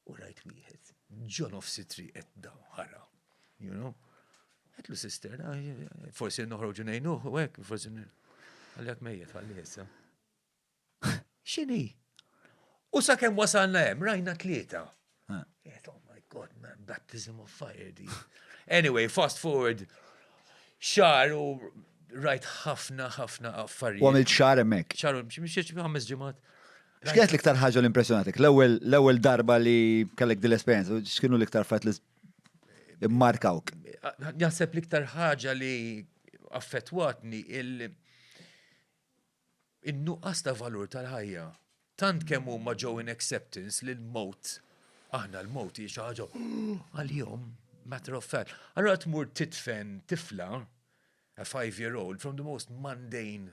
U rajt wieħed, ġo nofs it-triq qed daw ħara, you know. Għetlu sister, ah, forsi noħroġu nejnuh, u għek, forsi għalek mejjet għalli jessa. Xini? U sa' kem wasalna jem, rajna tlieta. Għet, oh my god, man, baptism of fire di. Anyway, fast forward, xar u rajt ħafna, ħafna affarijiet. U għamilt xar emmek. Xar, ximxieċ ħames ġimat. X'kienet l-iktar ħaġa li impressjonatik? L-ewwel l-ewwel darba li kellek din l-esperjenza, x'kienu l-iktar fat li markawk? Naħseb l-iktar ħaġa li affettwatni il- in-nuqqas ta' valur tal-ħajja. Tant kemm huma ġew in acceptance li l-mowt, aħna l-mowt hi xi ħaġa għal-jom, matter of fact. Allora tmur titfen tifla, a five-year-old, from the most mundane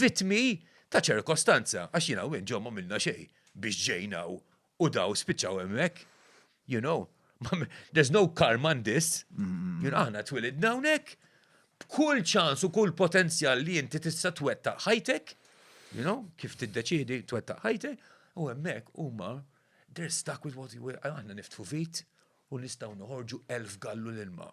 vittmi ta' ċirkostanza, għax jiena u int ġo m'għamilna xejn biex ġejna u u daw spiċċaw hemmhekk. You know, there's no karma in this. You know, aħna twilidna hawnhekk b'kull ċans u kull potenzjal li inti tista' twettaq ħajtek, you know, kif tiddeċidi twettaq ħajtek, u hemmhekk huma they're stuck with what you will, aħna niftħu vit u nistgħu noħorġu elf gallun ilma.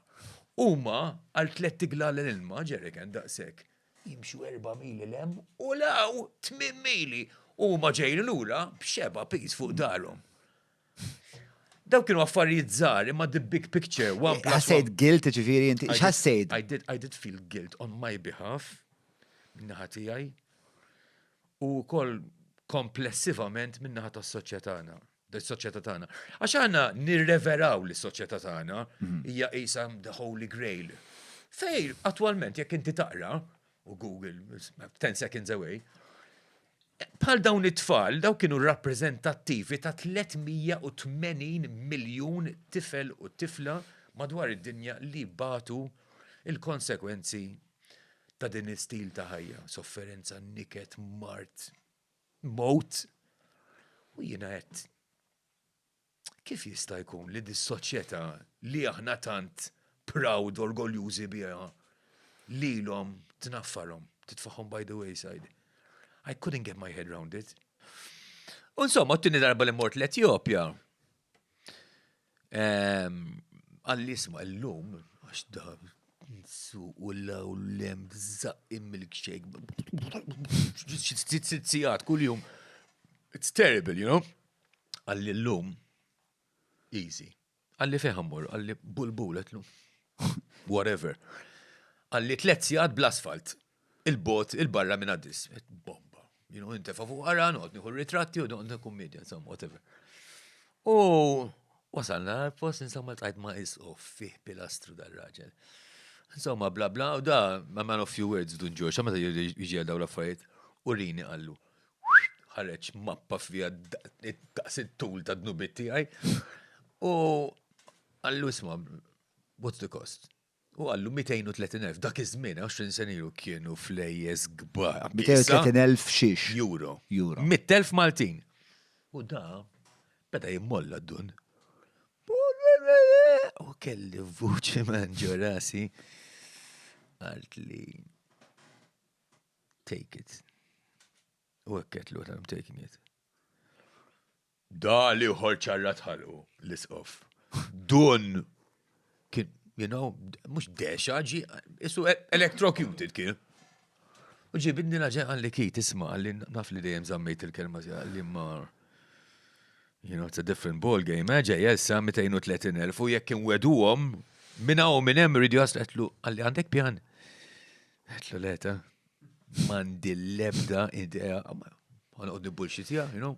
Huma għal tlett iglalen ilma, ġeriken daqshekk, jimxu erba' mili 'l hemm u 'l hawn, tmien mili, u huma ġejjin lura b'xeba' piż fuq darhom. Dawk kienu affarijiet żgħar imma the big picture, one plus one. Ħassejt guilt ġifieri inti, x'ħassejt? I did, I did feel guilt on my behalf, min-naħa tiegħi, u wkoll komplessivament min-naħa tas-soċjetana. bis-soċjetà tagħna. Għax għandna nirreveraw li s-soċjetà tagħna mhm. hija qisha the holy grail. Fej, attwalment, jekk inti taqra, u Google, 10 seconds away, bħal dawn it-tfal, daw kienu rappreżentattivi ta' 380 miljun tifel u tifla madwar id-dinja li batu il-konsekwenzi ta' din istil ta' ħajja, sofferenza, niket, mart, mowt. U jiena għedt, Kif jista' jkun li dis-soċjetà li aħna tant proud, orgoljużi biha, lilhom tnaffarhom, titfagħhom by the wayside? I couldn't get my head round it. U insomma, t-tieni darba li mort l-Etjopja, Għall-isma l-lum, għax da su u l-lem zaqqim milkshake. Sitt kull-jum. It's terrible, you know? Għall-lum, easy. Għalli feħamur, għalli bulbul, għetlu. Whatever. Għalli tlet sijat bl-asfalt. il-bogħod, il-barra minn Addis. Bomba. Jinu intefa fuq għara, noqgħod nieħu ritratti u noqgħod kummedja, insomma, whatever. U wasalna għal-post, insomma, tajt ma' isqof fih pilastru dal-raġel. Insomma, bla bla, u da, ma' man of few words, dun ġoċa, ma' ta' jġi għal daw l-affarijiet, u rini għallu ħareġ mappa fija daqs it-tul ta' dnubit tiegħi. U għallu isma' what's the cost? U qallu 230,000, dak iż-żmien, 20 sena ilu kienu flejjes kbar. 230,000 xiex. Euro. Euro. 100,000 Maltin. U da, beda jimmolla dun. U kelli vuċi man ġorasi. Għalt li. Take it. U għekket l I'm taking it. Da l-ieħor ċarrat ħalqu l-isqof. Dun kien, you know, mhux dexa ġi, isu e- electrocuted kien. U ġi bidni laġen għalli ki tisma għalli naf li dejjem zammejt il-kelma zi għalli mar. You know, it's a different ball game, eh, ġej, jessa 230.000 u jekk inwedu għom, minna u minn hemm rridu jaslu għetlu għalli għandek pjan. Għetlu leta, mandi l-lebda idea, għanqod nibulxitja, you know,